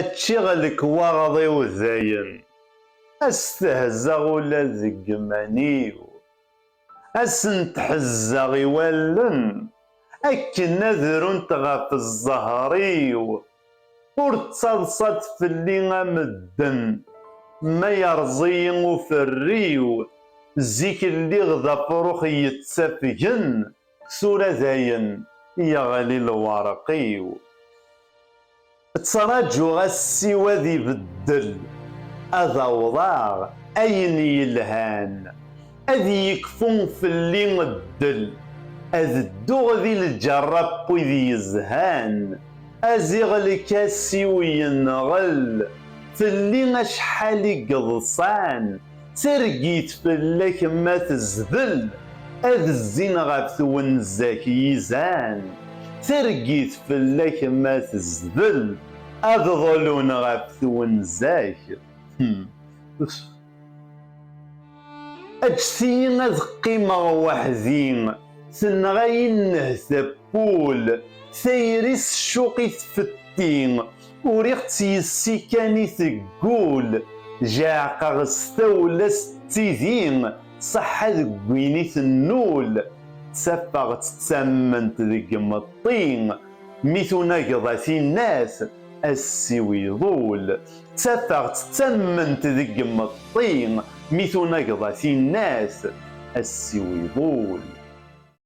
Ččiɣ lekwaɣeḍ-iw dayen, ad stehzaɣ ula deg iman-iw, ad sent-ḥezzeɣ i wallen akken ad runt ɣef zzher-iw, ur ttaḍsat fell-i a medden, ma yerẓ-iyi uferriw, zik lliɣ d afrux yettafgen, Tura dayen yeɣli lwerq-iw. Ttraǧuɣ assi-w ad ibeddel, ad awḍeɣ ayen yelhan, ad yekfu fell-i ddel, ad dduɣ di lǧerra n wid yezhan. Aziɣlek assi-w yenɣel fell-i acḥal i yeḍsan. Targit fell-ak ma tezdel, ad zzin ɣef twenza-k yizan. Targit fell-ak ma tezdel, ad ḍlun ɣef twenza-k. Hmm. Eǧǧet-iyi ad qqimeɣ weḥd-i, tenɣa-yi nnehta n wul, tayri s ccuq i tfetti. Uriɣ-tt yes-i kan i teggul, jeɛqeɣ s tawla s tidi, ṣaḥḥa deg win i tennul, ttafeɣ-tt d tamment deg imeṭṭi, mi tunageḍ a tinnat, ass-iw iḍul. Ttafeɣ-tt d tamment deg imeṭṭi, mi tunageḍ a tinnat, ass-iw iḍul.